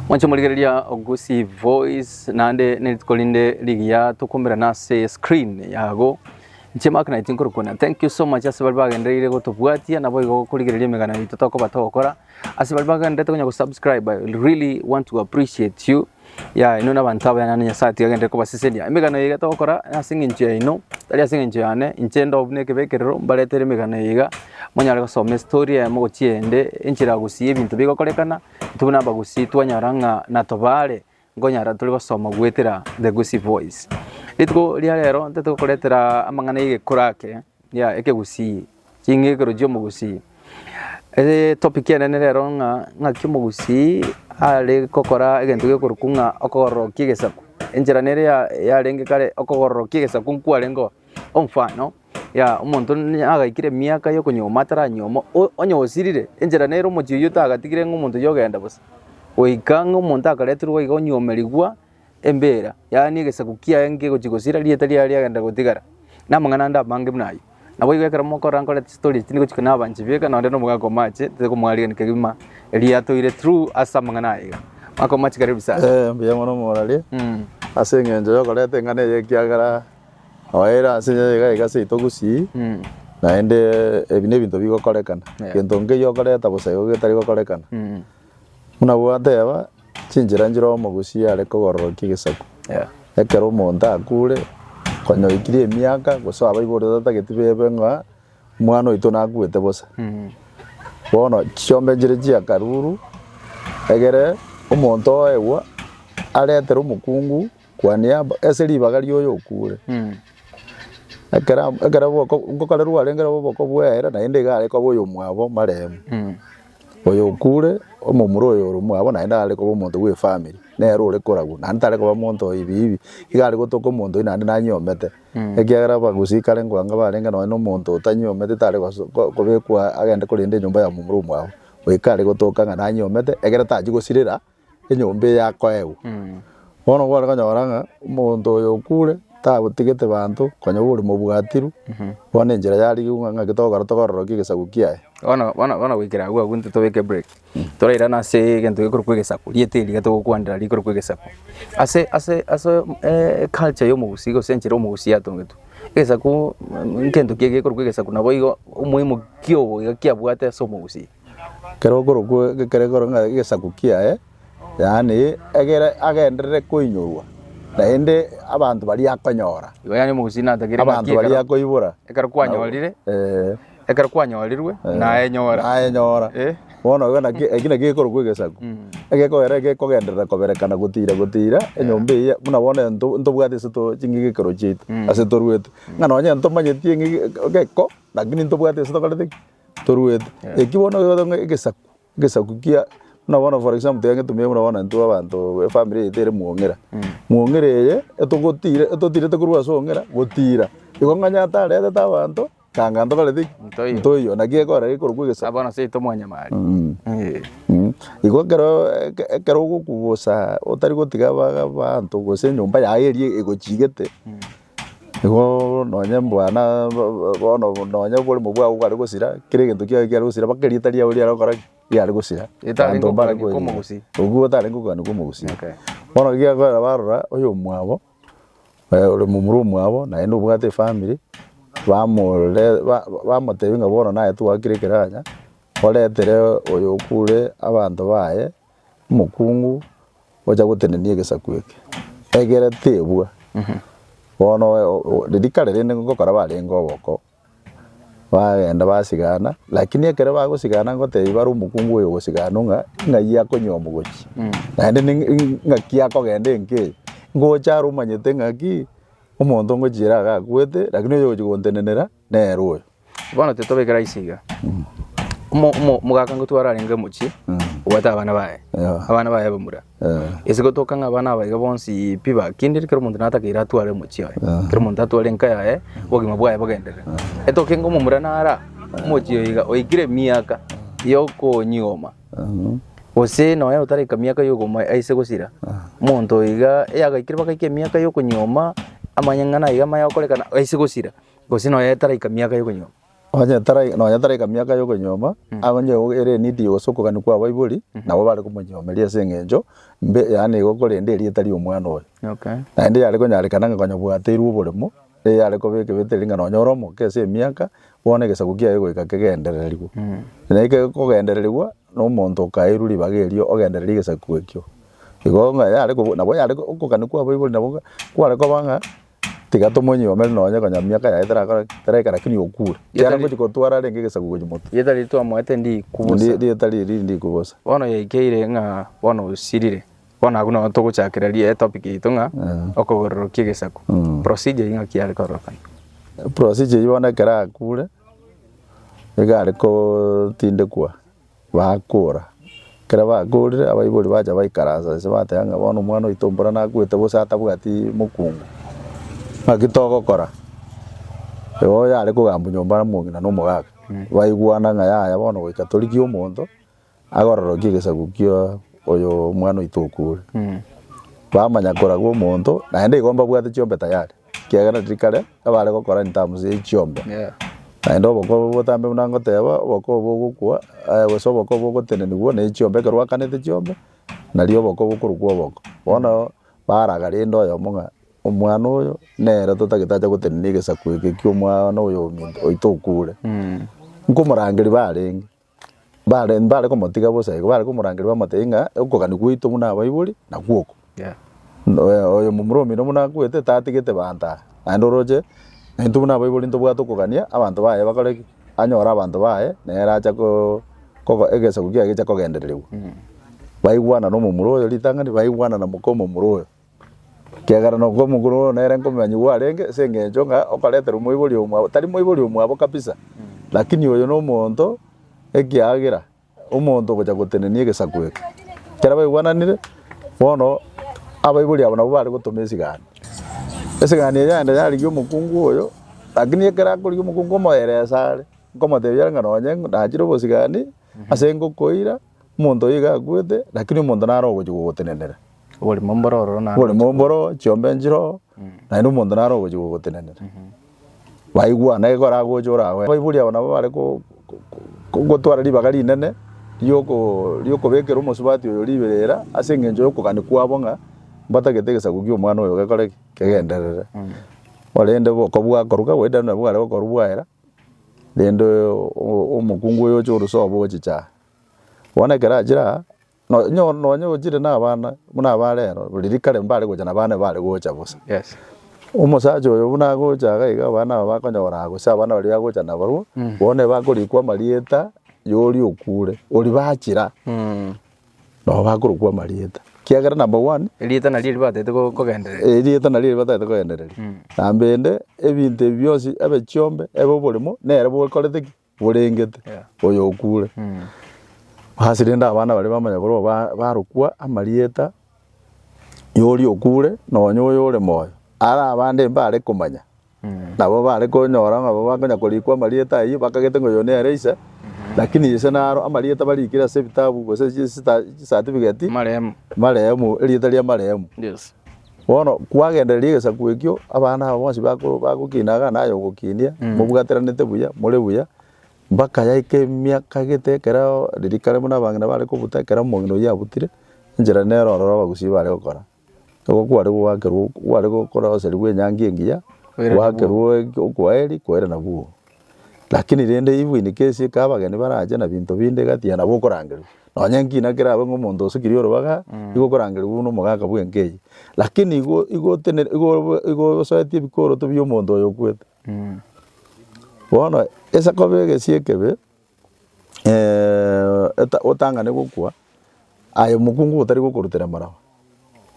Mwanche morigereria Ogusi Voice naende nerituko rinde rigiya tokomerana ase screen yago Inche Mark Knight nkorokwana thank you so much ase baria bagendereire gotobwatia naboigo gokorigereria emegano yaito tokoba togokora ase baria bagenderete konya gosubscribe I really want to appreciate you yeah inwe nabanto abaya naende Nyasae tiga agenderere kobasesenia emegano eye togokora nase eng'encho yaino tari ase eng'encho yane inche ndoo buna ekebekerero mbaretere emegano eye iga monyare gosoma estory yaye mogochie ende enchera gusii ebinto bigokorekana Tubuna abagusii twanyora ng'a natobaare nkonyara tore gosoma goetera The Gusii Voice. Rituko ria rero ntete gokoretera amang'ana y'egekura ake ya ekegusii, ching'ikero chi'omogusii. Ere topic enene rero ng'a ng'aki omogusii are gokora egento gekorokwa ng'a okogororokia egesaku. Enchera nere ya yarenge kare okogororokia egesaku nkwarengeo omfano ya omonto nagaikire emiaka yokonyuoma ataranyuoma, o- onye osirire, enchera nere omochie oyio tagatigire ng'a omonto oyio ogenda bosa. Goika ng'a omonto akareterwa iga onyuomerigwa embera, yaani egesaku kiaye nkegochi gosira rieta riaye riagenda gotigara. Na amang'ana ande amange buna ayio. Naboigo ekero mokora nkore chistory echi nigochika nabanche bieka nonde na omogaka omache tobe komwarigani kegima eria atoire through ase amang'ana aye iga. Mwaka omache kare ebisaku. Eh mbuya mono morari, Mm. ase eng'encho yokoreta eng'ana eye ekiagera. Oere ase engencho ye egasi yaito gusii, naende ebi nebinto bigokorekana, egento nkeyio okoreta bosa igo getari gokorekana. Buna gwateba, chinchera nchire omogusii are kogororokia egesaku. Ekero omonto akure, konya oikire emiaka, gose abaiborete otageti bebe ng'a omwana oito nakuete bosa. Bono chiombe nchire chia akaruru, egere omonto oegwa aretere omokungu. Kwane aba ase ribaga rioyo okure. Mm. Ekero ab- ekero boko nkokare rwarengire obo boko bwere naende iga are koba oyomwabo maremu. Mm. Oyo okure omomura oyo ore omwabo naende are koba omonto bwe efamiri nere ore koragwa naende tare koba omonto oyo hivi hivi iga are gotoka omonto oyio naende nanyomete Mm. ekiagera abagusii kare nkoanga barenge nonye na omonto otanyomete tare goso ko- kobekwa agende korenda enyomba ya momura omwabo. Oyo kare gotoka ng'a nanyomete ekero tachi gosirera. enyomba eye yakoegwa. Bono kware konyora ng'a omonto oyo okure tagotigete banto konya bori mobwatiru bono enchera yarigigwe ng'a ng'aki togokora tokororokia egesaku kiaye. Bono bono bono goikera agwo agwo intwe tobeke break torairane ase egento gekorokwa egesaku rieta eri riga togokwanera rikorokwa egesaku. Ase ase ase eculture ya omogusii gose enchera omogusii atongetwe, egesaku ngento kiya gekorokwa egesaku naboigo omoimo kiogo iga kiabwate ase omogusii. Ekero okorokwa ekero koro ng'a egesaku kiaye, yaani egere agenderere koinyorwa, naende abanto baria akonyora, Igo yaani omogusii natagire ng'aki abanto baria ekero- akoibora. ekero kwanyorire, Eh, ekero kwanyorirwe, eh, naenyora. Naenyora. Eh. Bono igo naki, eki naki gekorokwa egesaku. Mm. Egekogera gekogenderera koberekana gotira gotira enyomba eyio, buna bono ento ntobwate ase to ching'aki ekero chiaito, Mm. ase toruete. Ng'a nonye ntomanyeti eng'aki geko, lakini ntobwati ase tokorete ki? Toruete, eki bono egoteba ng'a egesaku, egesaku kia, buna bono for example tiga ngetumie buna bono intwe abanto efamiri yaito ere mwong'ira, mwong'ira eye etogotire etotirete korwa ase ong'ira gotira, igo ng'a onye ataretete abanto, kanga ntokoreti ki? Ntoiyo. Ntoiyo, naki ekorora gekorokwa egesaku. Bono ase yaito mwanyamari. Eeh. Mh, igo ekero eke- ekero ogokugusa otari gotiga aba- abanto gose enyomba yago eria egochigete, Igo nonye mbwana bono nonye oboremo bwabo bware gosira, kera egento kiaye kiare gosira mpaka erieta riabo riare gokora ki? Riare gosira. Etarenge Abanto mbare okogania koenerera. kw'omogusii. Obwo otarenge okogania kw'omogusii. Okay. Bono ekiakorera barora oyomwabo eh, ore momura omwabo naende obwate efamiri, bamore ba- ba- bamotebia ng'a bono naye twagokire ekero anya, oretere oyo okure abanto baye Omokungu ocha gotenenia egesaku eke, egere tebua. Bono riria kare rende ngokora barenge oboko, bagenda basigana, lakini ekero bagosigana ngotebia bare omokungu oyo ogosiganwa ng'a ng'ai akonywea omogochi. Naende ng'aki akogenda enka eye, ngocha are omanyete ng'aki, omonto ngochia ere iga akwete, lakini oyo ogochia gontenenera. nere oyo. Bono titobekera ase iga, omo- omo- omogaka ngotwa ararenge mochie, obwate abana baye, Yeah. abana baye bamura. Eh. Ase gotoka ng'a abana aba iga bonsi pi bakendire, kera omonto natakeire atware mochie oye, kera omonto atware enka yaye, obogima bwaye bogenderere. Etoke ng'a omomura nara mochie oyo iga, oikire emiaka yokonyigoma, Mhm. gose nonya otareka miaka yokogoma aise gosira, omonto oyo iga, eyagaikire bagaika emiaka yokonyigoma, amanyang'ana iga amaya gokorekana aise gosira. Gose nonya etaraika miaka y'okonyuoma. Onye tara- nonya taraika miaka y'okonyuoma, onye o- ere enidi ya gose okogania kwa abaibori, nabo bare komonyuomeria ase eng'encho mbe, yaani igo korenda erieta ri'omwana oye. Okay. Naende yare konyarekana ng'a konya bwateirwe oboremo, nigo yare koba ekebetereri ng'a nonya ore omoke ase emiaka, bono egesaku kiaye goika kegendererigwe. Na ekero kogendererigwa, na omonto okaeirwe ribaga erio ogendererie egesaku ekio. Igo ng'a yare kobu- nabo yare ko- okogania kwa abaibori nabo kware koba ng'a. Tiga tomonyuomere nonye konya miaka yaye terakora ki? Teraika lakini okure. Kiara Yetari- ngochi kotwara renge egesaku gochia motu. Rieta riria twamoete ndikubosa. Ndi- Rieta riri riri ndikubosa. Bono yaikeire ng'a bono osirire. Bono agwo nao togochakera ri- etopic yaito ng'a Mm. okogororokia egesaku. Mm. Procedure eyio ng'aki yare korokana. Procedure eyio bono ekero akure, iga are kotindekwa. Baakora. Ekero bakorire, abaibori bacha baikaransa inse, bateba ng'a, Bono omwana oito ombura nakwete, gose atabwati mokungu, naki togokora? Igo oyare kogambwa nyomba n'omong'ina na omogaka, baigwana ng'a yaya bono goika torigie omonto agororokie egesaku kia oyo omwana oito okure. Bamanya koraga omonto, naende igo mbabwate chiombe tayari. Ekiagera tiri kare abare gokora in terms ye chiombe. Naende oboko obo botambe buna ngoteba oboko obo bogokwa eh, gose oboko obo bogotenenigwa ne chiombe ekero gwakanete chiombe nario oboko bokorokwa oboko. Bono baraga rende oyomo ng'a omwana oyo nere totagete ache gotenena egesaku eke kia omwana oyo ominto oito okure. Nkomorangeria barenge. Bare mbare komotiga bosa igo, bare komorangeria bamotebia ng'a okogania gwaito buna abaibori nagwo oko. Oyo- Oyo momura omino buna akwete tatigete banto aa, naende oroche na intwe buna abaibori ntobwate okogania abanto baye bakore ki? anyore abanto baye nere acha ko- kogo egesaku kiaye gecha kogendererigwa. Baigwana na omomura oyo ritang'ani, baigwana na moka omomura oyo. Ekiagera nokwo omokoro oo nere nkomonyanyi bwarenge, ase engencho ng'a okaretera omoibori omwabo, tari moibori omwabo kabisa, lakini oyo nomonto ekiagera omonto ogocha gotenenia egesaku eke. Ekero baigwananire, bono abaibori abo nabo bare gotoma esigani. Esigani eria yende yarigia omokungu oyo, lakini ekero akorigia omokungu omoyeresa are, nkomotebia are ng'a nonye nachire obosigani, ase ngokoira, Omonto oyo iga akwete, lakini omonto naro ogochia gogotenenera. Oborimo mboro ororo naro. Oborimo mboro ororo, chiombe nchire ororo, naende omonto naro ogochia gogotenenera. Baigwa, naki koragocha orabe. Abaibori aba nabo bare gotwara ribaga rinene ri'okobekera omosubati oyo riberera ase engencho y'okogania kwabo ng'a mbatagete egesaku ki'omwana oyo gekore ki? Kegenderere. Korende bokong'u bwakorwa ka gwaidire nonye bware bokorwa bwaera, rende omokungu oyo oche orose obo ogochicha aa. Bono ekero achire aa, no- nyo- nonye ochire na abana buna aba rero, riria kare mbare gocha na abana ebare gocha bosa. Yes. Omosacha oyo buna agocha iga iga abana aba bakonyora gose abana baria agocha nabarwa, bono ebakorikwa amarieta ya oria okure, oria bachira, Mm. nabo bakorokwa amarieta. Kiagera number one, Erieta nario erio batete ko- kogenderera. erieta nario ribatagete kogendereria. Nambende, ebinto ebi bionsi, ebe chiombe, ebe oboremo, nere bokorete ki? borengete oyo okure. Ase rende abana baria bamanya korwa ba- barokwa amarieta yoria okure nonya oyo ore moyo. Are abande mbare komanya nabo bare konyora ng'a nabo bakonya korikwa amarieta ayio bakagete ng'a oyo nere ise lakini ise naro amarieta barikire ase ebitabu gose chista- chisatifigeti Marehemu. marehemu erieta ria marehemu. Yes. Bono kwagendereria egesaku ekio, abana aba bonsi bako- bagokinaga naye ogokinia, Mm. mobwataranete buya, more buya, mpaka yaika emiaka egete ekero ririka rimo na abang'ina bare kobuta, ekero omong'ina oyio abutire, enchera nere ororo abagusii bare gokora. Nigo kware goakerwa, kware gokoroserigwa enyangi engiya, Koirana bwogo. gwakerwa okoeri, koirana bwogo. Lakini rende ibu inike esio eke abageni barache na binto binde gati ya nabo okorangerwa. Nonye ngina kerabe ng'a omonto osikire orobaga, igo okorangerigwa buna omogaka bw'enka eye. Lakini igo igo otenene igo obo igo osoetie ebikoroto bi'omonto oyo okwete. Bono ase koba egesio ekebe. otang'ane gokwa, aye omokungu otari gokorutera emaraba.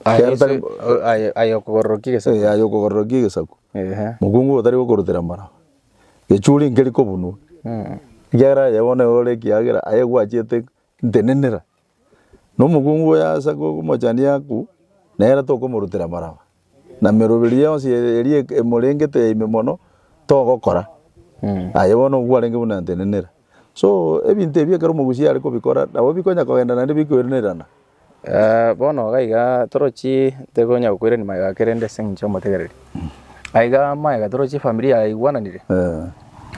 Aye okogororokia egesaku. Aye okogororokia egesaku. Omokungu otari gokorutera emaraba. Echuri nkeri kobunwa. Ekiagera aye bono ore ekiagera, aye gwachiete ntenenera. na omokungu oyo ase gokomochanda Yaku, nere tokomorutera amaraba, na emeroberi yonsi eria emorengete ya ime mono togokora, aye bono nigo kwarenge buna atenenera. So ebinto ebi ekero omogusi are kobikora nabo bikonya kogenda naende bikoiranerana. Bono iga iga torochi ntokonya gokoirania magega ake rende ase eng'encho y'omotegereri. Aiga magega toro chifamilia yaigwananire,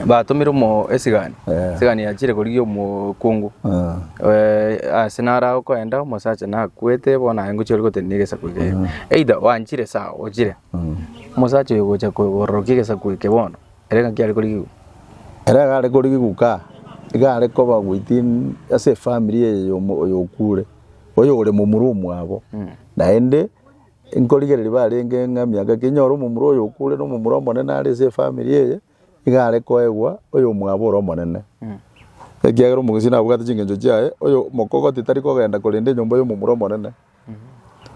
batomire omo esigani, Eh. esigani yachire korigia omokungu Eh, Eh, ase nare agokoenda omosacha nakwete bono aye ngochia origotebia negesaku eke either wanchire sawa ochire mm. omosacha oyo gocha kororokia egesaku eke bono ere ng'aki are korigiwa Ere iga are korigiwa ka, iga are koba within ase efamiri eye y'omo- oyo okure, oyo ore momura omwabo, naende Inkorigereria barenge ng'a emiaka eke inyore omomura oyo okure nomomura omonene are ase efamiri eye, iga are koegwa oyomwabo ore omonene. Ekiagera omogusii nabwate chingencho chiaye, oyo mokogoti tari kogenda korenda enyomba y'omomura omonene,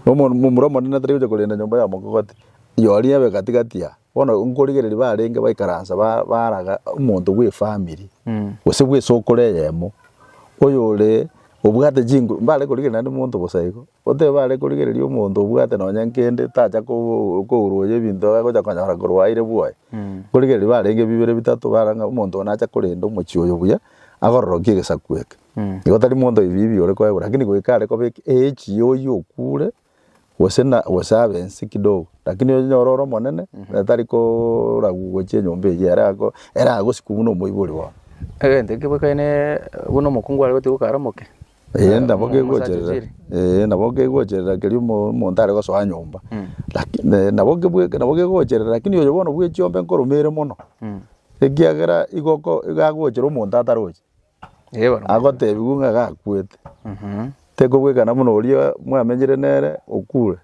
na omomura omonene tari gocha korenda enyomba ya mokogoti. Yoria ebe gati gati aa. Bono nkorigereria barenge baikaransa ba- baraga omonto bw'efamiri, gose bw'esokoro eyemo, oyore obwate chingo mbare korigereria naende monto bosa igo, otebe bare korigereria omonto obwate nonye nkende tacha koo- koruoyia ebinto iga agocha konyora korwa aire bwoye. Nkorigereria barenge bibere bitato bara ng'a omonto oyo nache korenda omochie oyo buya, agororokie egesaku eke. Igo tari monto oyobibi ore koegwa, rakini goika are kobeka eechi oyio okure, gose na gose abe ense kidogo lakini onyore ore omonene na tari koragwa gochia enyomba eyio ere ago ere agosikwa buna omoibori oo. Egento ekio boikerane buna omokungu are gotiga okare omoke. Eeh nabo omosacha kegocherera ochire. eeh nabo kegocherera keria omo omonto are gosoa nyomba laki ne nabo kebweka nabo kegocherera lakini oyo bono bwe chiombe nkoromere mono ekiagera igo oko iga agochera omonto ataroche. Agoteebigwa ng'a gakwete, tekobwekana buna oria mwamenyire nere okure,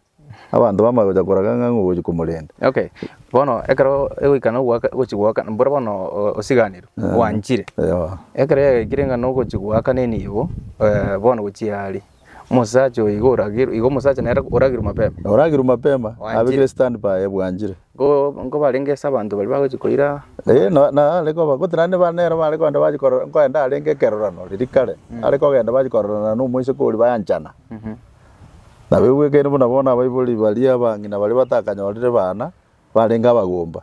abanto bamanye gocha koraga ng'a nigo ogochia komorenda. Okay, bono ekero egoikana goaka gochia goakana mboro bono osiganerwe gwanchire, ekero yaikire ng'a nogochia goakana enibo bono gochia aria, Omosacha oyo igo oragerwe, igo omosacha nere oragerwe mapema. Oragerwe mapema, Wanchire. abekire stand by ebwanchire. Go- Nko barenge ase abanto baria bagochia koira Eh, na- na are koba gose naende ba- nero bare kogenda bachi korora nkoenda arenge ekerorano riria kare are kogenda bachi kororana na omoiseke oria bayanchana nabo ebwekaine buna bono abaibori baria abang'ina baria batakanyorire bana barenge abagomba.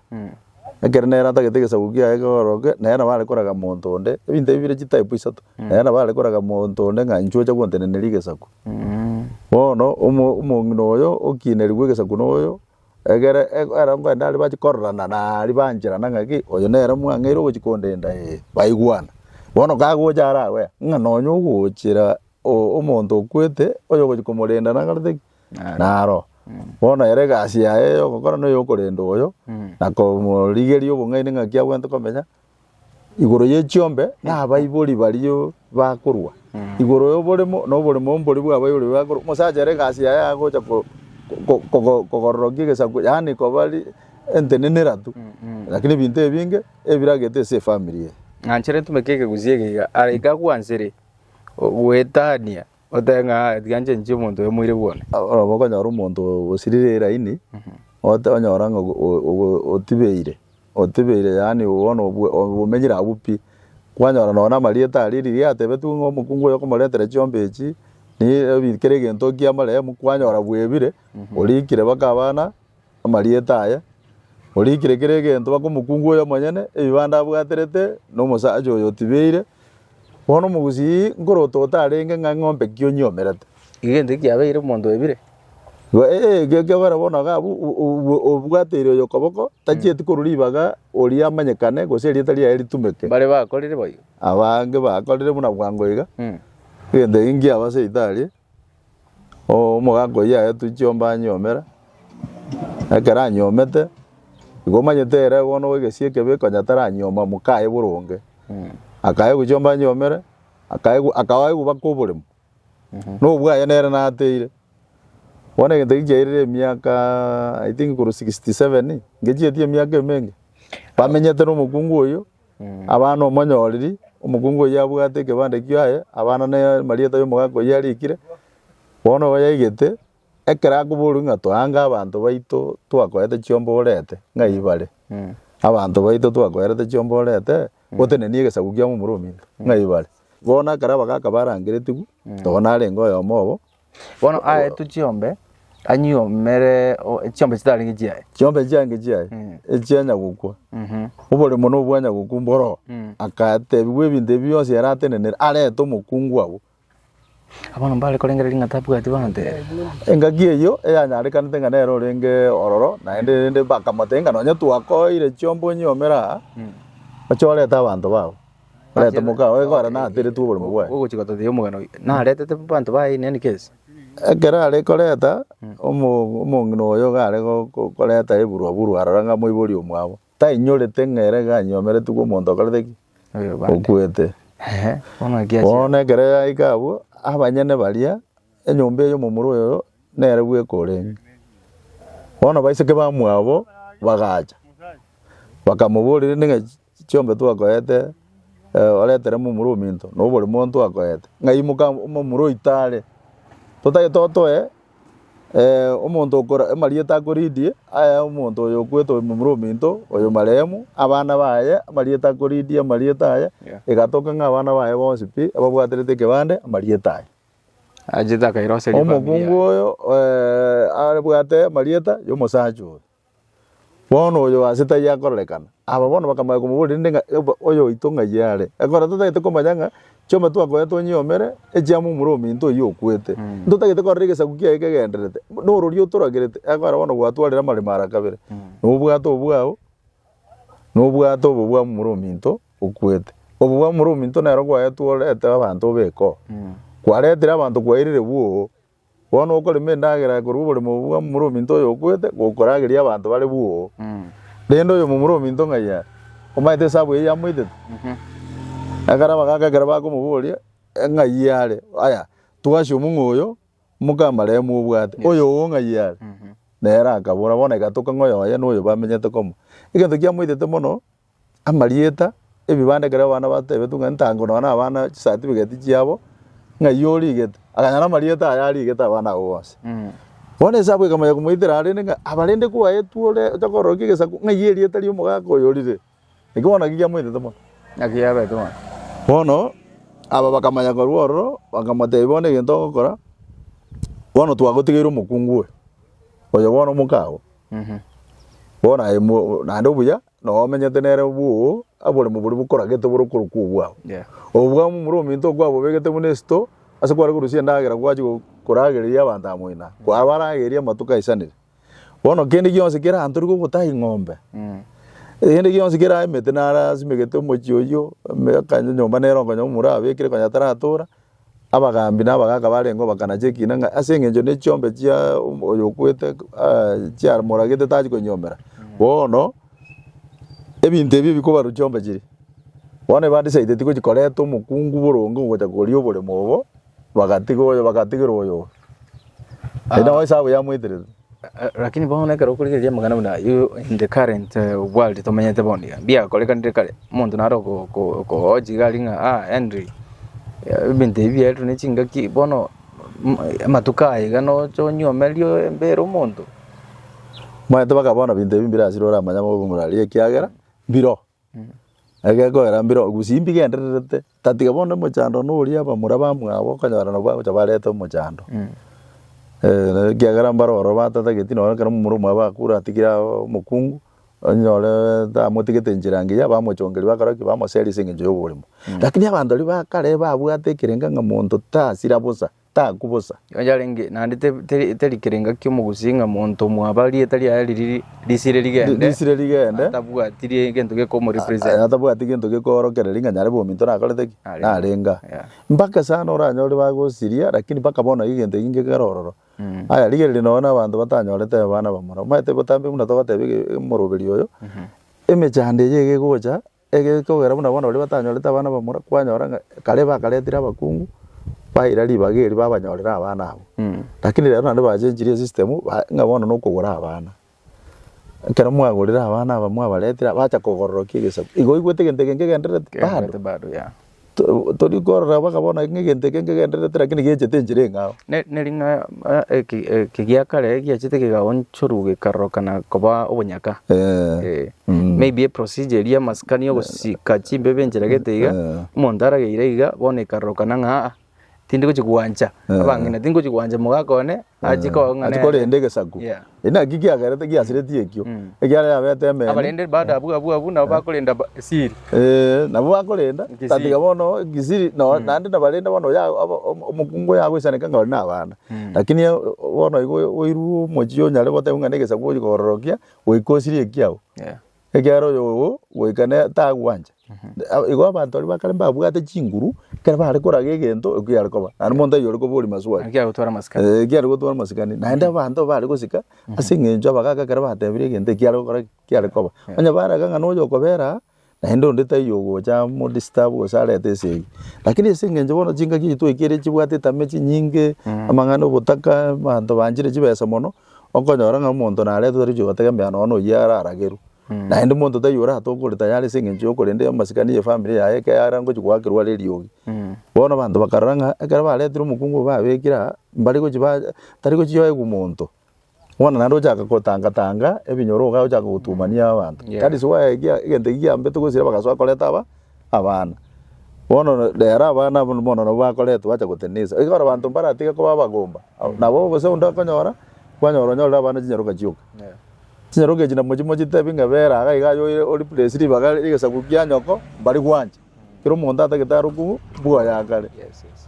Ekero nere atagete egesaku kiaye kigoroke, nere nabo are koraga monto onde, ebinto ebi bire chitype isato, nere nabo are koraga monto onde ng'a inche ocha gwanteneneria egesaku. Bono omo- omong'ina oyo okiinerigwe egesaku na oyo, egere eg- ero ngwende aria bachi kororana na aria bancherana ng'aki, oyo nere mwang'eire ogochi kondenda ee, baigwana. Bono kagocha ara agoe, ng'a nonye ogochera o- omonto okwete, oyogochi komorenda nakorete ki? Naro, bono ere egasi yaye ey'ogokora n'ey'okorenda oyo, na komorigeria obong'aini ng'aki abwate komenya, igoro ye chiombe na abaibori baria bakorwa, igoro y'oboremo na oboremo mbori bw'abaibori baria bakorwa, omosacha ere egasi yaye agocha ko- ko- ko- kogororokia egesaku yaani koba ri entenena erato, rakini ebinto ebinge ebiragete ase efamiri eye. Nanchere ntumeke ekegusii eke iga, are iga gwanchire goetania Otebe ng'a, Tiga nchenchie omonto oyo moire bwone. Oraba okonyora omonto osirire eraini, ote- onyora ng'a ogo- o- ogo- otibeire, otibeire yaani bono obwe- obomenyire abwo pi. Kwanyora nonya na amarieta aria riria atebetiwe ng'a omokungu oyo okomoretera chiomba echi, ni ebi- kera egento ekiamoremu, kwanyora bwebire, orikire mpaka abana. amarieta aye, orikire kera egento baka omokungu oye omonyene ebibanda abwaterete na omosacha oyo otibeire. Bono omogusii nkorota otarenge ng'a eng'ombe ki onyiomerete? Egento eki kiabeire omonto oebire. Igo ee, ekio ekiagokora bono iga abwo o- o- obwa- obwateire oyo okoboko, tachieti korwa ribaga oria amanyekane gose erieta riaye ritumeke. Mbare bakorire boigo. Abange bakorire buna bwango iga, Mm. egento eki nkiabaseete aria. Omogaka oyio ayetwe chiombe anyiomere, ekero anyiomete, igo omanyete ere bono bw'egesie ekebe konya taranyioma moka aye boronge. Akaye gochia chiombe anyiomere, akaye go- akaba aye gobaka oboremo, na obwo aye nere nateire. Bono egento ekio kiairire emiakaaaa I think korwa sixty seven, ngechiretie emiaka emenge, bamenyete na omokungu oyio. Abana omonyoriri, omokungu oyio abwate ekebande kiaye, abana ne marieta y'omogaka oyio arikire. Bono igo yaigete, ekero akoborwa ng'a toange abanto baito twakoete chiomborete, ng'a ibare, abanto baito twakoerete chiomborete, gotenenia egesaku kia momura ominto, ng'a ibare. Bono ekero abagaka barangeretigwe, nonye narenge oyomo obo. Bono aetwe chiombe, anyiomere o- echiombe chitarenge chiaye. Chiombe chiange chiaye Mm. echianya gokwa Mhm. oboremo na obwanya gokwa mboro Mm. agatebigwa ebinto ebi bionsi yaratenenere arete omokungu agwo Bono mbare korengera ring'ata abwati baante. engaki eyio eyanyarekanete ng'a nere orenge ororo naende rende bakamotebia ng'a nonye twakoeire chiombe onyiomere aa Mm. oche orete abanto bago Reta omokao oye kore nateretwe oborimo bwaye. Ogochika tothia omogeni oye. Naretete banto baye in any case. Ekero are koreta, omo- omong'ina oyo iga are go- go- koreta eburwa burwa aroro ng'a moibori omwabo, tainyorete ng'a ere iga anyomeretigwe omonto okorete ki? Oyobande. Okwete. Ehe, bono naki achiete. Bono ekero yaika abwo, abanyene baria, enyomba eyo omomura oyo nere bweka orenge. Bono baiseke bamwabo bagacha, bakamoboria rende ng'a Chiombe twakoete, oretere momura ominto, na obore monto akoete, ng'a imoka momura oito are. Totagete otoe omonto okora amarieta a koridi aya omonto oyo okwete momura ominto oyo marehemu, abana baye amarieta a koridi amarieta aye, egatoka ng'a abana baye bonsi pi ababwaterete ekebande amarieta aye. Achete akairoseria efamiri yaye. Omokungu oyo abwate amarieta ya omosacha oyo. Bono oyo o aase taiyo akororekana. Aba bono bakamanya komoboria rende ng'a, Eba, oyoito ng'ai are? Ekero totagete komanya ng'a chioma twakoete onyiomere, echiama omura ominto oyio okwete, ntotagete korora egesaku kiaye kegendererete, norori otoragerete, ekogera bono gwatwarire amaremo ara kabere, na obwate obwao, na obwate obobwamu omura ominto okwete. Obobwamu omura ominto nero gwaetwe orete abanto obekoo. Kwaretire abanto kwairire bwoo. Bono okorema endagera korwa oboremo obwo bwa momura ominto oyokwete, gokorageria abanto bare bwoo. Rende oyo momura ominto ng'ai are, omanyete esabu eye yamoitete? Ekero abagaaka ekero bakomoboria, ng'ai are, aya, twasio omong'u oyo, mokamarehemu obwate, oyoo ng'ai are? Nere akabora, bono egatoka ng'a oyo oye noyo bamenyete komo. Egento kiamoitete mono. amarieta, ebibanda ekero abana batebetwe ng'a ntango nonya na abana chisatifigeti chiabo, ng'ai origete, akanyora amarieta aya arigete abana abwo bonsi. Bono esabu ekamanya komoitera aa rende ng'a aba rende kwaetwe ore ocha kororokia egesaku ng'ai erieta ria omogaka oyo orire. Eki bono naki giamoitete mono. Naki yabete mono. Bono, aba bakamanya korwa ororo, bakamotebia bono egento ogokora, bono twagotigeire omokungu oyo, oyo bono omoka oo, bono aye mo naende obuya. na omenyete nere bwoo, aboremo boria bokoragete bore okorokwa obwao. Obobwamu omoro ominto oo kwabobegete buna esito ase kware korusia endagera gwachia koragereria abanto amoina, kwabarageria amatuko aisanire. Bono kende gionsi kera ntori gogotaha ing'ombe, kende gionsi kera emete narasimegete omochie oyio, eme- kanya nyomba nere okonyora omomura abekire konya taratora. Abagaambi na abagaaka barenge obakana chi'ekiina ng'a ase engencho ne chiombe chia oyo okwete chiamoragete tachia koinyiomera. Bono ebinto ebi bikobarwa chiombe chiria. Bono ebandisaideti gochia koreta omokungu boronge ogochia koria oboremo obo, bagatiga oyo bagatigerwa oyo obe. Erio nabo esabu yamoeterete. Lakini bono ekero okorigereria amang'ana buna ayio in the current world tomenyete bono iga, mbiakorekanire kare, omonto naro ogo- ogo- okogocha iga aria ng'a ah Henry, ebinto ebi biaereirwe ne chingaki, bono amatuko aya iga nocha onyomerie embere omonto. Omanyete mpaka bono ebinto ebi mbirasire oramanye ng'a obe omorwaria ekiagera mbiroo. Egekoera mbire gusii mbigendererete, tatiga bono omochando na oria abamura bamwabo okonyora nabwo agocha bareta omochando. Eh, na ekiagera mbare ororo batatageti nonye ekero omomura omwabo akure atigire aaa omokungu, onyore tamotigete enchera engiya, bamochongeri bakora ki? Bamoseri ase eng'encho ya oborimo. Lakini abanto aria ba kare babwate ekerenga ng'a monto tasira bosa. taku bosa. Yarenge, naende teri kere ngaki omogusi ng'a monto omwaba rieta riaye riria risire rigende, risire rigende, atabwati gento gekomorepresent, atabwati gento gekoorokereria ng'a nyare bominto nakorete ki, narenga. Mpaka sana oranyore bagosiria, lakini mpaka bono naki gento eki ngekere ororo. Aya, rigereria nonye na abanto batanyorete abana bamura, omanyete botambe buna togotebi omoroberio oyo, emechando eye iga egocha, Egere kogera buna bono baria batanyorete abana bamura, kwanyora ng'a kare bakaretire abakungu, baira ribaga eri babanyorera abana abwo. Lakini rero naende bachenchirie esystem, ba- ng'a bono na okogora abana. Ekero mwagorire abana aba mwabaretire, bacha kogororokia egesaku. Igo oigwete egento eke nkegendererete bado? Kegendererete bado, yeah. Tori korora mpaka bono ng'a egento eke nkegendererete rakini gechiete enchera eng'ao. Ne ring'ana eke gia kare giachete kegaonchorwa gekarorokana koba obonyaka. Maybe e procedure eria y'amasikani ogosika chimbebe enchera gete iga, omonto arageire iga bono ekarorokana ng'a aa tindi gochi gwancha abang'ina, tindi gochi gwancha mogaaka one Achie Eh, koonga achie nere. korenda egesaku Yeah. Eri naki kiagerete giasiretie ekio ekiagera yabete emeni Abarende baada abwo abwo abwo nabo bakorenda ba- siri. Eh, nabo bakorenda Kisiri. tatiga bono kisiri no- naende nabarende bono ya- abo- omo- omokungu yagoisaneka ng'a ore na abana lakini eh, bono igo oirwe omochie onyare goteba ng'a na egesaku ogochi kororokia goika osirie ekiago Yeah. Ekiagera oyo goika ne tagwancha. A- Igo abanto baria bakare mbabwate chinguru, ekero bare koraga egento ekio yare koba. Naende monto oyio ore koboria maswali. Naki agotwara masikani. Eh, ekiare gotwara masikani naende abanto bare gosika ase eng'encho abagaaka ekero batebire egento ekiare gokora ki? Kiare koba. Onye baraga ng'a noyo okobera aa, naende onde taiyo ogocha amo disturb gose arete ase eyio. Lakini ase eng'encho bono chingaki echi twaikire chibwate etame chinyinge, amang'ana obotaka, abanto banchire chibesa mono, okonyora ng'a omonto naretwe tari gochia gotega mbiya nonya oyio araragerwe. Naende omonto taiyo oratoke ogokora tayari ase eng'encho y'okorenda amasikani y'efamiri yaye ekero are ngochia goakerwa are eriogi. Bono abanto bakarora ng'a ekero baretire omokungu obo babekire aa, mbare gochia ba tari gochia oegwa omonto. Bono naende ochaka gotanga tanga ebinyoro iga ochaka gotumania abanto. That is why ekia egento ekio kiambete gose bagasoa koreta aba. abana. Bono rero abana abwo bono nabwo bakoretwe bacha gotenenisa. Ekero abanto mbaratige koba abagomba, nabo gose onde okonyora, kwanyora onyorire abana chinyaroka chioka. Chinyaroka echi namochi mochitebi ng'a bera iga iga aye o replace ribaga rigesaku kia nyoko, mbari gwancha. Kera omonto atagete arokwu bwoye akare.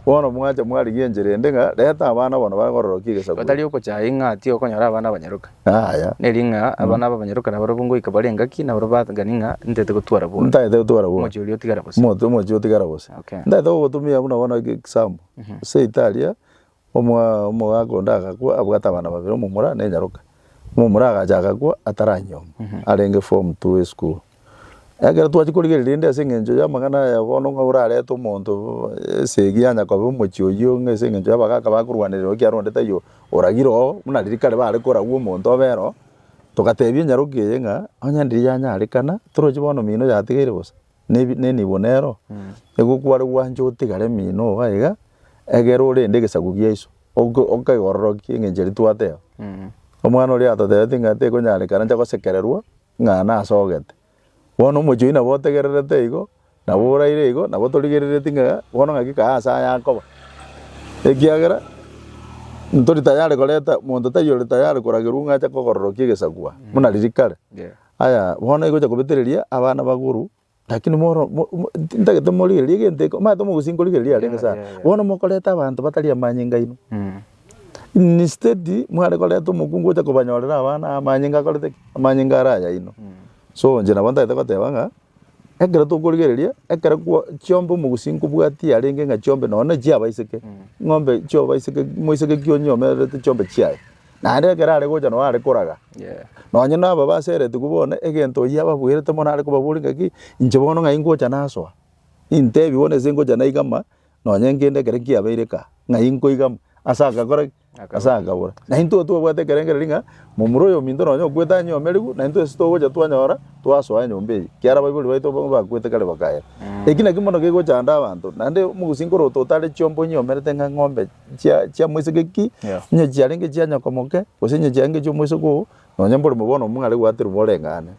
Bono mwacha mwarigia enchera ende ng'a reta abana abo nabare kororokia egesakuru. Gatari okochaya ing'ati okonyora abana abanyaroka. Yaya. Neri ng'a abana aba abanyaroka nabarabwo ngoika bare engaki, nabarabwo bagani ng'a ntaete gotwara bobe. Ntaete gotwara bobe. Omochie oria otigara bose. Omote omochie otigara bose. Okay. Ntaete gogotumia buna bono eke example. Seito aria, omwa omogaka onde agakwa abwate abana babere omomura na enyaroka. Omomura agacha agakwa ataranyiomo, arenge form two esukuru. Ekero twachia korigereria rende ase engencho y'amang'ana aya bono ng'a orarete omonto esegi yanya kobe omochie oyio ng'a ase engencho y'abagaka bakorwanerera oo ekiagera onde taiyo oragire oo buna riria kare bare koragwa omonto obe ere oo, togatebia enyaroke eye ng'a onye ndiri yanyarekana toroche bono mino yatigeire bosa na ebi na enibo nere oo. Nigo kware gwancha otigare mino oo iga egere orende egesaku giaiso ogo okeororokia engencho eria twateba. Omwana oria atotebeti ng'a tekonyarekana ncha gosekererwa. ng'a nasogete. Bono omochie oyio nabo otegererete igo, nabo oraire igo, nabo torigereretie ng'a bono ng'aki kae ase aya akoba, ekiagera ntori tayari koreta, monto taiyo ore tayari koragerwa ng'a ache kokororokia egesagwa, buna riria kare. Aya bono egocha kobetereria abana bagoru. Lakini moro- mo- mo- ti- ntagete morigererie egento eke, omanyete omogusi nkorigereria arenge Yeah, sana. yeah, yeah. Bono mokoreta abanto batari amanyinga aino. Mm. Instead, mware koreta omokungu ocha kobanyorera abana amanyinga akorete ki? Amanyinga are ayaino. So inche nabo ntagete goteba ng'a, ekero tokorigereria, ekero kwa chiombe omogusi nkobwatia arenge ng'a chiombe nonya na echiabaiseke, ng'ombe chiobaiseke moiseke ki onyeomererete chiombe chiaye. Naende ekero are gocha nao are koraga, nonye naba baseretigwe bono, egento oyio ababuerete mono are kobaboria ng'aki, inche bono ng'ai ngocha nasoa? Nintebi bono ase ngocha naiga ama, nonye nkende ekero nkiabeire kaa, ng'ai nkoiga ama? Ase agakora ki? Ase akabora. Na intwe twabwate ekerengerero ng'a momura oyominto nonye okwete ang'e omerigu, na intwe ase togocha twanyora, twasoa enyomba eyio, ekiara abaibori baito abwo bakwete kare bakaera. Eki nakio mono kegochanda abanto, naende omogosinka oroto otare chiomba onyeomerete ng'a eng'ombe chia chia moiseke Yeah. inye chiarenge chia nyoko moke gose inye chiarenge chia omoiseke oo nonye mbore mo bono omong'are gwaterwa moreng'ane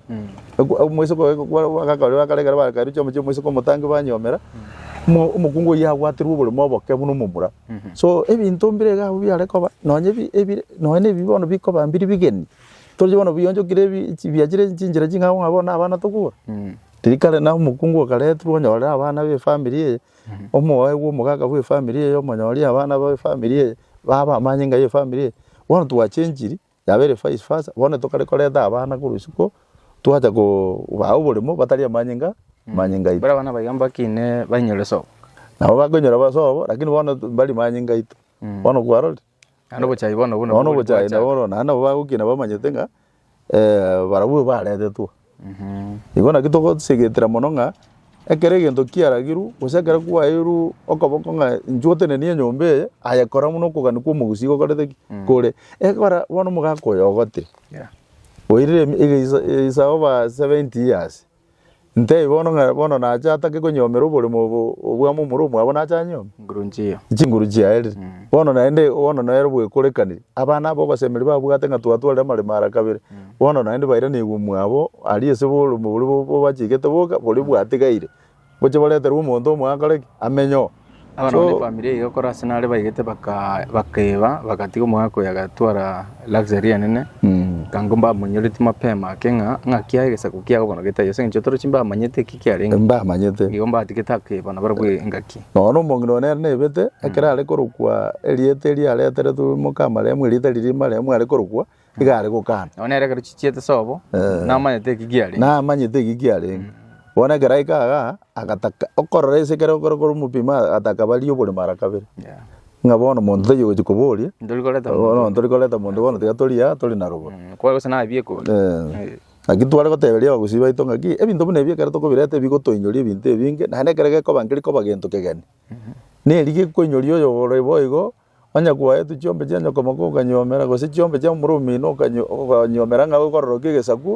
Oku- omoiseke oye gokwa bagaka baria bakare ekero bakairwa chioma chia omoiseke omotangi banyomera mo omokungu oyio agwaterwa oboremo oboke buna omomura so ebinto mbire iga abwo biare koba nonye ebi ebire nonye na ebi bono bikoba mbiri bigeni toche bono bionchokire ebi chi biachire chinchera ching'ao ng'a bono na abana tokobua riria kare na omokungu okaretirwa onyorere abana be efamiri eye. Omoyo bw'omogaka bw'efamiri eye, omonyori abana b'efamiri eye, baba amanye ng'a ye efamiri eye, bono twachenchiri, yaba ere vice versa, bono nabo tokare koreta abana korwa isiko, twacha kobaa oboremo batari amanye ng'a amanye ng'aito. Baria abana abaiga mbaki inee bainyore sobo. Nabo bakonyora sobo, lakini bono mbari manye ng'aito. Bono kwarorire? Naende obochai bono nabwo Bono obochai bwachaka. nabo bono naende nabo bagokina bamanyete ng'a eh, barabwo baretetwe. Igo naki togosegetera mono ng'a ekero egento kiaragirwe gose ekero kwaeirwe okoboko ng'a inchuo otenenie enyomba eye, aye kora buna okogania kwa omogusii gokorete ki? kore. Ekora bono omogaka oyo ogotire, Yeah. oirire emi- egesa- esaoba 70 years, Ntei bono ng'a bono nache atake konyomera oboremo obo obw'amo omoro omwabo nache anyome? Nguru nchiyo. Chinguru chiaerire. Bono naende bono nere bwekorekaniri. Abana aba obasemeri babwate ng'a twatwarire amaremo ara kabere. Bono naende bairanigwe omwabo aria ase oboremo boria bo- bobachigete boka, boria bwatigaire. Ngochie boreterwe omonto omo akore ki? Amenye oo. Abana bane efamiri eye gokora ase nare baigete baka- bakaeba, bagatiga omogaka oyo agatwara luxury enene, ekango mbamonyoreti mapema ake ng'a ng'aki aye egesaku kiago bono getaiyo, ase eng'encho torochi mbamanyete eki kiarenge, Mbamanyete. igo mbatigete akeeba nabarabwo engaki. Nonya omong'ina one ere nebete, ekero are korokwa erieta erio areteretwe moka marehemu, erieta riria marehemu are korokwa, iga are gokana. Nabo nere ekero chichiete sobo, Eh. namanyete eki giarenge. namanyete eki kiarenge bono ekero aika igaa agataka okorora ase ekero okore kore omopimo agataka barie obore mara kabere Yeah. ng'a bono monto taiyo ogochi koboria Ndori koreta bono omonto. ntori koreta monto bono tiga tori aa tori na rogoro Mm, Kware gose naye biekori. Eh. Naki tware goteberia abagusii baito ng'aki ebinto buna ebi ekero tokobireta bigotoinyoria ebinto ebinge naende ekero gekoba nkerikoba gento kegeni neri gekoinyoria oyo ore boigo Onye kwaetwe chiombe chia nyokomoko okanyuomera, gose chiombe chia omoro omino okanyuomera ng'a oikororokia egesaku,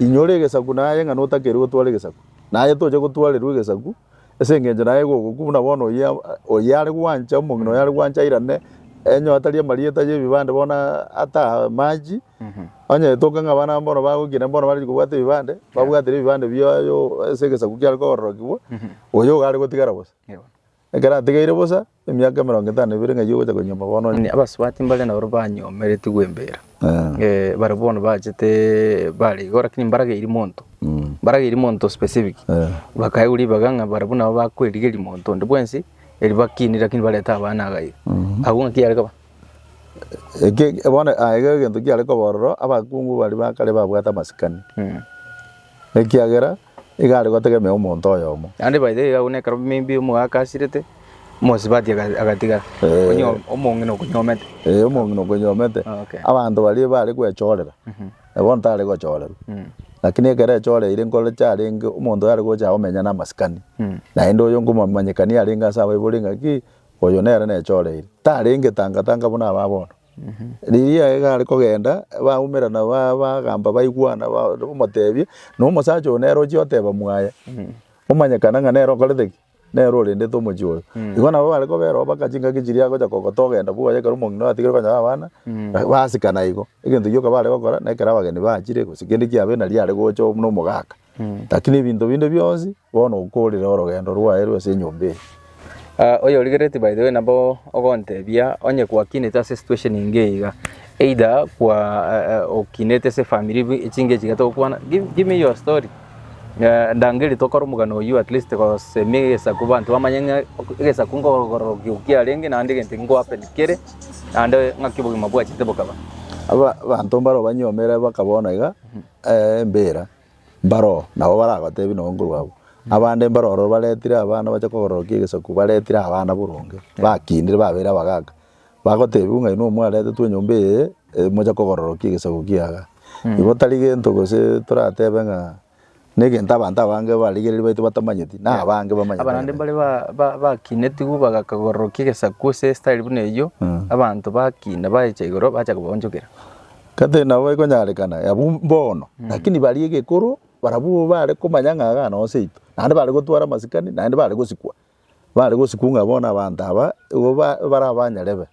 inyora egesaku naye ng'a notakeirwe gotwara egesaku, naye tocha gotwarerwa egesaku, ase engencho naye egokokwa buna bono oyio oyare gwancha omong'ina oyare gwancha airane enyo atari amarieta ya ebibande bono ataa amache, onye etoke ng'a abana bono bagokina bono barenge kobwata ebibande, babwatire ebibande biaye oo ase egesaku kiare koororokigwa, oyio iga are gotigara bosa. Ekero ategeire bosa emiaka emerongo etano na ebere ng'a eyio ogocha konyuoma bono onye. Abasubati mbare naboro banyomeretie gwembera, eh, bare bono bachete bare igo lakini mbarageirie monto, mbarageirie monto specific, bakaegwa ribaga ng'a barabwo nabo bakwerigeria monto onde bwensi eribakinie lakini barete abana iga iga. Agwo ng'aki yare koba? Eke bono egento kiare koba ororo abakungu baria ba kare babwate amasikani. ekiagera iga are gotegemea omonto oyomo. Naende by the way iga buna ekero maybe omogaka asirete, omosubati aga- agatigara, Eh. onye omong'ina okonyomete. Eh, omong'ina okonyomete, Okay. abanto baria bare gwechorera, na bono tare gochorerwa. Mm. Lakini ekero echoreire nkore chiarenge, omonto oyo are gocha komenya namasikani, Mm. naende oyo nkomomanyekania arenge ase abaibori ng'aki, oyo nere nechoreire. Tarenge tanga tanga buna aba bono. Riria egare kogenda, baumera na ba- bagamba baigwana, ba- omotebie, na omosacha oyo nere ochia oteba mwaye, omanyekana ng'a nere okorete ki? Nere orendete omochie oyo. Igo nabo bare kobera oo baka chingaki chiria agocha kogota ogenda buna oye ekero omong'ina oyo atigire konya na abana, basikana igo. Egento gioka bare gokora, na ekero abageni bachire, gose kende kiabeire nari are gocha o- na omogaka. Lakini ebinto binde bionsi bono okoorire orogendo rwaye rw'ase enyomba eye. Ah, oyorigeretie by the way nabo ogontebia onye gwakinete ase situation enge iga either kwa eh, eh, okinete ase family bi- echinga echi iga togokwana give, give me your story Eh, ndangeri tokore omogano oyio at least gosemi egesaku banto bamanye ng'a ok- egesaku nkogororo gio kiarenge naende egento ego happen kere naende ng'aki obogima bwachete bokaba Aba- abanto mbare obanyomere mpaka bono iga embeera mbaroo nabo baragotebi nonye nkorwa abwo. Abande mbaro ororo baretire abana bache kogororokia egesaku baretire abana boronge bakindire babeire abagaka, bagotebi buna inwe mwaretetwe enyomba eye moche kogororokia egesaku kiaga. Igo tari gento gose toratebe ng'a na egento abanto abange barigereiri baito batamanyeti na abange bamanyete. Abana naende mbare ba- ba- bakinetigwe bagaka kogororokia egesaku ase estyle buna eyio, abanto bakina baecha igoro bacha kobaonchokera. Kata nabo ekonyarekana yabu mbono, lakini baria egekoro barabwo bare komanya ng'a iga noo seito, naende bare gotwara amasikani, naende bare gosikwa, bare gosikwa ng'a bono abanto aba igo ba- barabanyarebe.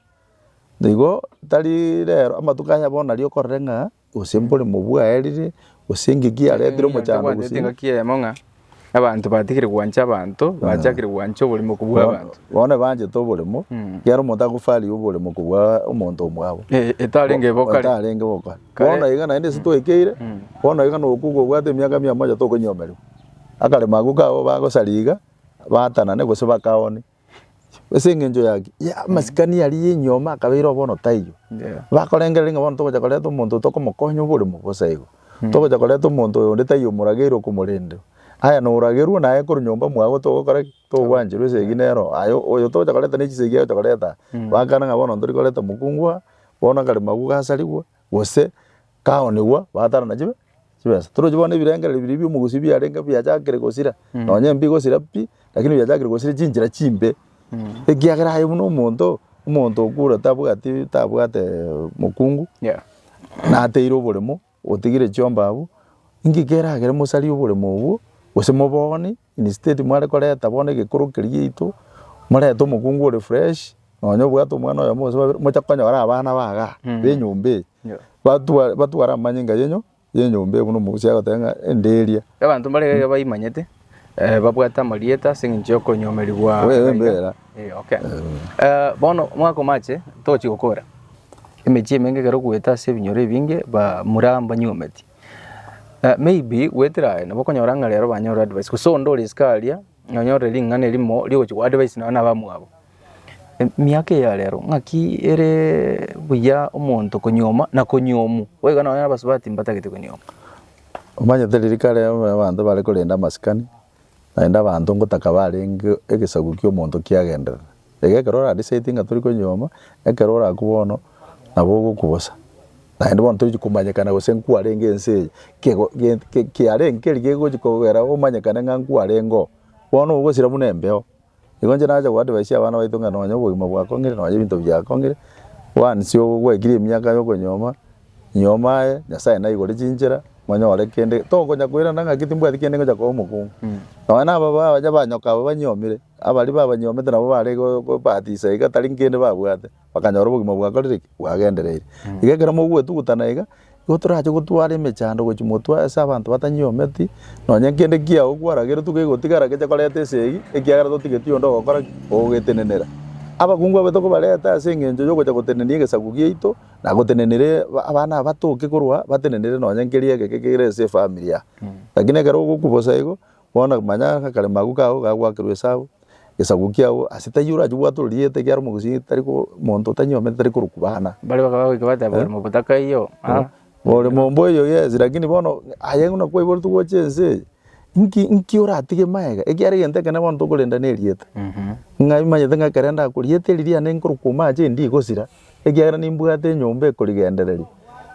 Na igo tari rero amatuko aya bono nario okorere ng'a gose mboremo bwaerire, gose engaki yaretire omochando gose. Abanto batigire gwancha abanto, bachakire gwancha oborimo kobua abanto. Bono nabanchete oboremo, Mm. ekiagera omonto agofaria oboremo kobua omonto omwabo. E- Etarenge ebe okare. Otarenge boka. Kare- Bono iga naende ase twekeire, Mm. bono iga noka okobwata emiaka mia mocha tokonyomerwa. Akaremo ako kabo bagosaria iga, batanane gose bakaone. Ase eng'encho yaki, ya amasikani aria ya enyuoma akabeireo bono taiyo. Yeah. Bakorengereria ng'a bono togocha koreta omonto tokomokonya oboremo bosa igo. Togocha koreta omonto oyo onde taiyo omorageire okomorendera. Aya na oragerwe naye korwa nyomba mwabo togokora ki? Togwancherwa esegi nero aye oyo togocha koreta ne chisegi agocha koreta aa. Bakana ng'a bono ntori koreta mokungu aa, bono akaremagwa gasarigwe. Gose kaonigwa batarana chibe chibesa. Torochi bono ebirengereri biria bi'omogusi biarenge biachakire gosira, nonye imbi gosira pi, lakini biachakire gosira chinchera chimbe, ekiagera aye buna omonto, omonto okure tabwati tabwate mokungu, Yeah. nateire oboremo, otigire chiomba abwo, inki keragere mosarie oboremo obwo, gose moboonie, Instead mware koreta bono egekoro keria giaito, morete omokungu ore fresh, nonye obwate omwana oyomo gose babere, mochake konyora abana ba igaa, Mm. ba enyomba eye, Yeah. batwa- batware amanyinga yenyu ya enyomba eye buna omogusii agoteba ng'a enderia. Abanto mbare iga baimanyete, eh, babwate amarieta ase eng'encho ya okonyomerigwa. Oye, iga. mbera. Eh, okay. Eh, bono omwaka omache, togochia gokora, emechie emenge ekero ogoeta ase ebinyoro ebinge, ba- mura mbanyometi. Maybe gwetera aye nabo okonyora ng'a rero banyore advice gose onde ore isiko aria nonyorire ring'ana erimo rigochi goa advice nonya na abamwabo. Emiaka eye ya rero ng'aki ere buya omonto konyuoma na konyuomu, boigo nonya abasubati mbatagete konyuoma. Omanyete riria kare abanto bare korenda amasikani, Naende abanto ngotaka barenge egesaku ki'omonto kiagenderere. Iga ekero oradisaidinge ng'a tori konyuoma, ekero ore agwo bono nabo ogokwa bosa. Naende bono tochi komanyekana gose nkwarenge ense eye, kego gento kiarenge keri kegochi kogera omanyekane ng'a nkwarenge oo, bono ogosira buna embeo. Igo inche nacha goadvaisia abana baito ng'a nonye obogima bwakong'ire nonye ebinto biakong'ire, once oo gwekirie emiaka ya okonyuoma, nyuoma aye, Nyasaye naigore chinchera, monyore kende, tokonya koirana ng'aki timbwati kende ngocha koba omokungu. Nonye na ababaa baria ba nyoka abwo banyiomire, abaria babanyiomete nabo bare go- go- gobatisa iga tari nkende babwate. bakanyora obogima bwakorire ki? Bwagendereire. Iga ekero mogoetugutana iga, igo torache gotwara emechando gochia motwe ase abanto batanyiometie, nonye kende kiao kwarageretwe kegotigara geche koreta esegi, ekiagera totigeti onde ogokora ki? Ogogetenenera. Abakungu abwo tokobareta ase eng'encho yogocha gotenenia egesaku giaito, na gotenenere aba- abana aba toki korwa batenenere nonye nkeria egeke kere ase efamiri yabo. Lakini ekero ogokwa bosa igo, Bono manya akaremo agwo kao gagoakerwa esabu, egesaku kiao, ase taiyo orache obwate ororigete ekiara omogusii tari ko, monto otanyomete tari korokubana. Baria bakaba bagoika bateba, Oremo botaka eyio, ah, Oremo mbo eyio yes, lakini bono aye buna kwaiboretwe gocha ense eye, nki nki oratige magega? Ekiara egento ekene bono tokorenda na erieta. Ng'a imanyete ng'a ekero ndako rieta eri riane nkorokuoma ache ndikosira, ekiagera nimbwate enyomba ekorigendereria,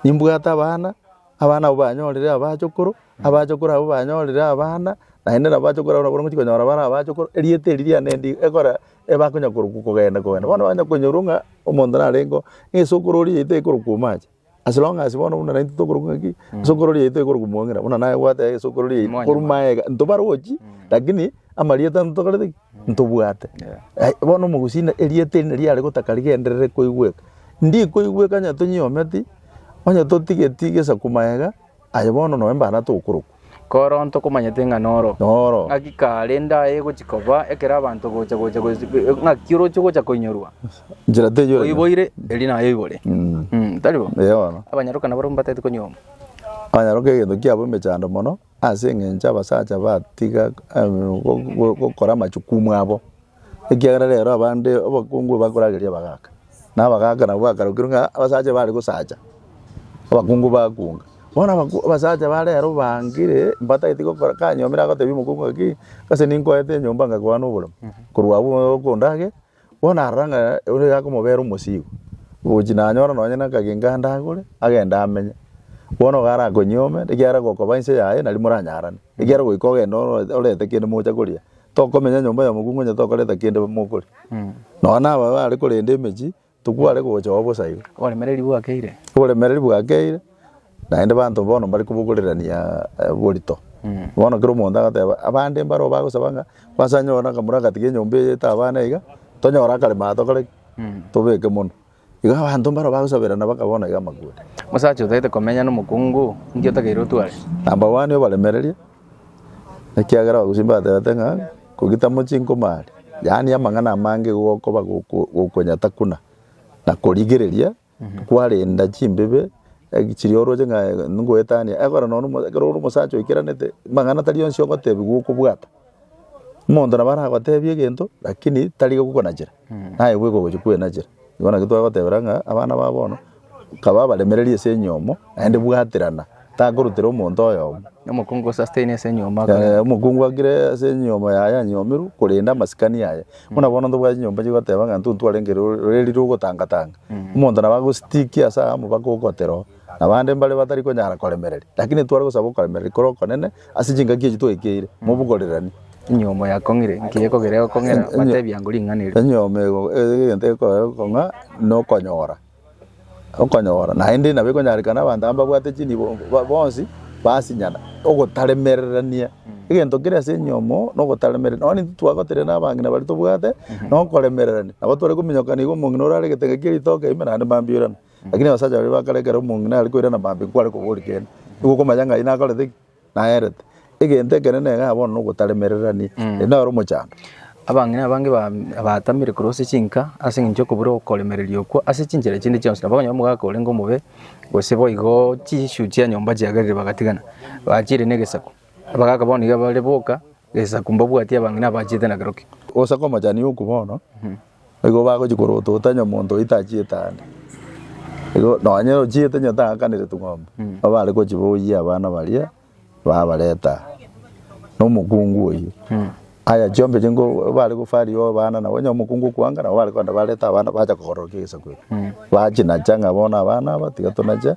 nimbwate abana. Abana abwo banyorire abachokoro, abachokoro abwo banyorire abana, naende nabo abachokoro abwo nabo bagochia konyora bare abachokoro, erieta eri riane rinde ekore bakonya korokwa kogenda kogenda. Bono banya konyorwa ng'a omonto narengeo ng'a esokoro oria yaito ekorokwa omoacha. As long as bono buna naintwe tokorokwa ng'a ki, esokoro oria yaito ekorokwa omong'ina, buna naye gwateba esokoro oria yaito korwa maega, ntobarochi, lakini amarieta ntokorete ki? Ntobwate. Ai, bono omogusi na erieta erinde riare gotaka rigenderere koigweka. Ndi koigweka onye tonyiometi, onye totigeti gesaku maega, aye bono noe mbare atokorokwa. Koro ntokomanyete ng'a noro. Noro. Ng'aki kare ndaye gochi koba ekero abanto gocha gocha gosi ng'aki oroche gocha koinyorwa. Njera teyo. Oiboire eri naye oibore. Mm. Mm, tari bo? Eyono. Abanyaroka nabare mbatete konyuoma. Abanyaroka egento kiabo emechando mono. Ase engencho abasacha batiga gokora amachukumu abo, ekiagera rero abande abakungu bakorageria abagaka, na abagaka nabo bakarokire ng'a abasacha bare gosacha, abakungu bakunga. Bono abasacha ba rero bangire mbatagete gokora, kanyomire agotebia omokungu ng'aki, gose ninkoete enyomba ngakogana oboremu, korwa abwo okondage. Bono arora ng'a oria yakomobera omosigo, ogochi nanyora nonye nakagengo ande agore, agende amenye. Bono iga arakonyuome, ekiagera gokoba inse yaye nari moranyarane, ekiagera goika ogenda oro- orete kende mocha koria, tokomenya nyomba ya mokungu onye tokoreta kende mokoria. Nonya na aba bare korenda emechie, tokware gocha oo bosa iga. Oboremereri bwakeire. Oboremereri bwakeire. Naende banto bono mbare kobogorerania borito. Bono kera omonto agateba, abande mbare oo bagosaba ng'a kwase anyore na akamura agatiga enyomba eye etabe abana iga, tonyore akarema aa tokore ki? Tobeke mono. Igo abanto mbare oo bagosaberana baka bono iga amakura. Omosacha otagete komenya na omokungu, inki otakeire otware? Number one obaremererie, ekiagera abagusii mbatebete ng'a ngoki tamochi nkoma aria. Yaani amang'ana amange igo gokoba goko gokonyataguna na korigereria. kwarenda chimbibe chiria oroche ng'a ngoetania, ekero nonye omo- ekero ore omosacha oikeranete, amang'ana tari onsi ogotebiwa okobwata. Omonto nabo aragotebie egento lakini tari gokonachera, naye bweka ogochia kwenachera. Igo naki twagotebera ng'a abana ba bono, nkaba abaremereria ase enyomo, naende bwaterana. Takorutera omonto oyomo. Omokungu osasteine ase enyuoma akore. Eh, omokungu agire ase enyuoma yaye anyomirwe korenda amasikani aye buna bono ntobwate chinyomba chigoteba ng'a ntuntu arenge ro- roreri rogotangatanga omonto nabo agositikia ase amo mpaka ogote roo nabande mbare batari konyara koremereria lakini etware gosaba okoremereria kore okonene ase chingaki echi twekeire mobogorirani Enyuomo yakong'ire, nki ekogera egokong'era? Batebia ngu ring'ana erio. enyuoma ego egento ekorere okong'a nokonyora okonyora, naende nabo ekonyarekana abanto aba mbabwate chinibo ba- bonsi basinyana, ogotaremererania egento kera ase enyomo na ogotaremere nonye titwagoterera na abang'ina baria tobwate, na okoremererania, nabo tware kominyokana iga omong'ina ore are egetenge kia ritoke ime naende mambia oirana. Lakini abasacha baria ba kare ekero omong'ina are koirana mambia nkware kobori kende, nigo okomanya ng'a aye nakorete ki. naerete. Egento ekenene iga bono nogotaremererania, erio naro omochando. Abang'ina abange ba- baatamire korwa ase chinka ase eng'encho y'okobura okoremereria okwo ase chinchera chinde chionsi, nabo okonyora omogaka orenge omobe, gose boigo chinswe chia nyomba chiagerire bagatigana, bachiire negesaku. Abagaka bono nigo bare boka, egesaku mbabwati abang'ina abachete na kero ki. Gose komochani okwo bono. Nigo bagochia korotota nyomonto oito achiete aande. Igo nonye ochiete onye tang'akanire tung'ombe, nigo bare gochia boyie abana baria babareta aa, na omokungu oyio. Aya chiombe echi nigo bare gofaria abana nabo onye omokungu okoanga nabo bare kogenda bareta abana bacha kogororokia egesaku erio. Bachinacha ng'a bono abana aba tiga tonache,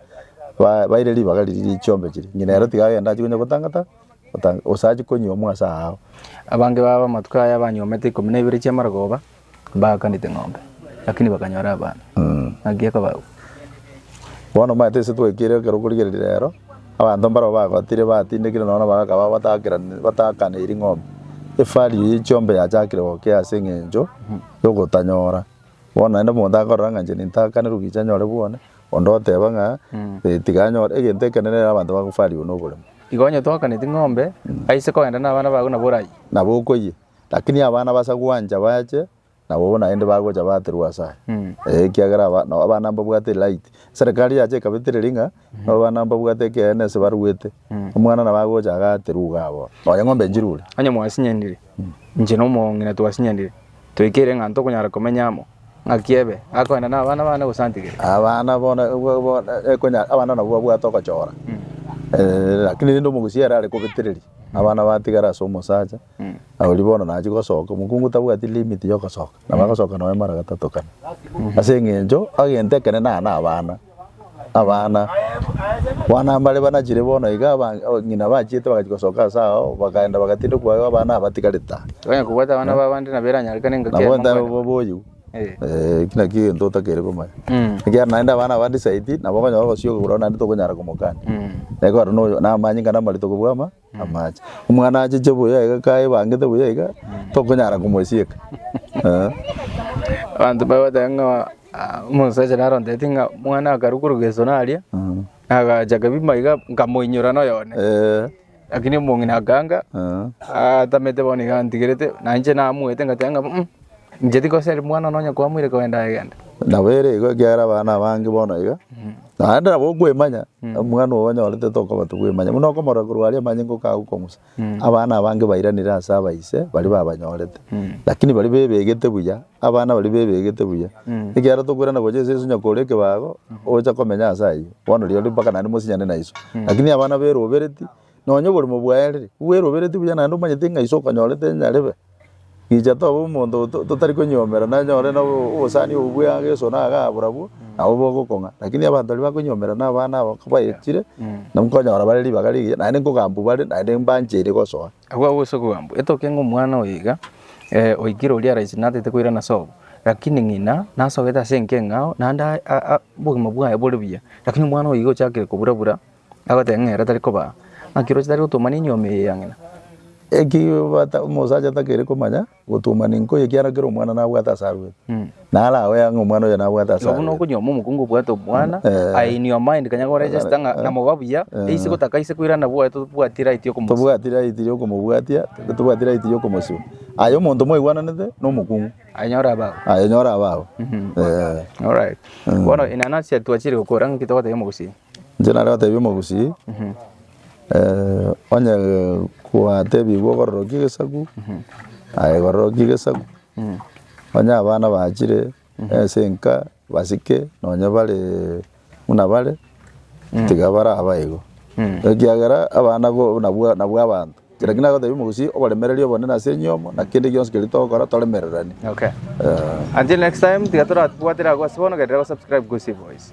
ba- baire ribaga riria rie chiombe chiria. Ng'ina ero tiga agende achie konya gotang'ata. Otange, osache konyiomwa ase aao. Abange babo amatuko aya banyiomete ikomi na ibere chi'amarogoba, mbaakanete ng'ombe, lakini bakanyora abana. Naki akabagwa. Bono omanyete ase twaikire ekero korigereria reero, abanto mbarabwo bagotire batindekire nonya na bagaka babo batakerani- bataakaneiri ng'ombe. Efari eye chiombe yachakire gokea ase eng'encho y'ogotanyora. Bono naende omonto akorora ng'a inche nintaakanerwe gicha nyore bwone, Onde oteeba ng'a, Ee, tiga anyore egento ekenene ere abanto bagofarigwe noboremu. Igo onye twakaneti ng'ombe, aise kogenda nabana bago nabo orayie. Nabo okoyie. Lakini abana basa gwancha bache, nabo bono naende bagocha baaterwa ase aye. Ee, ekiagera aba- no- abana mbabwate elight. Eserekari yacha ekabetereria ng'a, no abana mbabwate ekeene ase baruete. Omwana nabo agocha agaaterwa iga abwo. Nonya ng'ombe nchirure. Onye mwasinyanire, inche na omong'ina twasinyanire, toikere ng'a ntokonyara komenya amo. Ng'aki ebe, akoenda nabana bane gose antigere? Abana bono ekonya abana nabwo babwate ogochora lakini rende omogusia ere are kobetereria abana batigara ase omosacha oria bono nachia gosoka omokungu tabwati limit yogosoka nabo agosoka noe mara gatato kane ase eng'encho egento ekere nane abana. Abana bana mbare banachire bono iga, aba- abang'ina bachiete bagachia gosoka ase ao, bakaenda bagatinda kwaigwa abana abatigarete aa. Tokonyara kobwata abana b'abande nabo eranyarekane engaki Nabo yaye ntaibo mokwana. bobe oyio, Eh. eh, ekio nakio egento otakeire komanya. Mm. Ekiagera naende abana abande saidi, nabo okonyora ogosiyoka korwa naende tokonyara komokania. Mm. Naye kwaro noyo, namanyinga namarito kobua ama. amache. Omwana acheche buya iga kaebangete buya iga tokonyara komosieka eh. Abanto bagoteba ng'a ah, omosacha naro ontebeti ng'a omwana akarwa korwa gesona aria Mm. agacha kabima iga nkamoinyora na oyo one Eh, lakini omong'ina akanga eh. atamete bono iga antigerete na inche namuete ngateba ng'a mm. Inche tikoseri mwana one onye kwamoire kogenda egende. Nabo ere igo ekiagera abana abange bono iga, naende nabo okwemanya, omwana ogo onyorete tokoba tokwemanya, buna okomorora korwa aria amanye ngoka agwo kong'usa. Abana abange bairanire ase abaise baria babanyorete, lakini baria bebegete buya, abana baria bebegete buya. Ekiagera tokoirana gocha ase Yeso nyakore ekebago, ocha komenya ase ayio, bono rirorio mpaka naende mosinyane na Yeso. Lakini abana berobereti, Nonya oborimo bwaerire, bweroberetie buya naende omanyete ng'a iso okonyorete nyarebe. Inche toba omonto totari konyiomera nanyore na obosani obo bw'egesu na iga barabwo, nabo bogokong'a. Rakini abanto baria bakonyiomera na abana aba baetire, nabo nkonyora bare ribaga rigiya, naende nkogambwa bare, naende mbancheri gosoa. Agwo agwo ase okogambwa, etoke ng'a omwana oyo iga, oikire oria ara aisinatate koirana sobo, rakini ng'ina nasogete ase enkeng'ao, naende obogima bwaye bore buya, rakini omwana oyo iga ochakire kobura bura. Agoteba ng'a ere tari kobaa. Naki roche tari gotuomana enyio ime eye ya ng'ina. Eki bata omosacha atakeri komanya gotuomana enko eye ekiagera kera omwana nabwate ase arwete. Nara agoe ang'e omwana oyo nabwate ase Nabo buna arwete. okonyioma omokungu obwate omwana, Eh. aye in your mind kanya go register ng'a namoba buya, eisi gotaka aise koirana bwoye totobwati right yo komosibia. Tobwati right ria okomobwatia, totobwati right ria okomosibia. Aye omonto mwaigwananete na omokungu, Aye nyora abao. aye nyora abao. Eh. Alright. Bono enanasi eye twachire gokora ng'aki togotebia omogusii? Inche nare gotebia omogusii, onye kwatebigwa obororoki egesaku, aye roroki egesaku, onye abana bachire ase enka basike nonye bare buna bare, tiga baraba igo, ekiagera abana bo nabwo nabwo abanto, inche naki nagotebia omogusii oboremereri obonene ase enyomo na kende gionsi keria togokora toremereranie. Okay. Until next time, tiga toratwatera agwo ase bono, genderera gosubscribe Gusii Boys.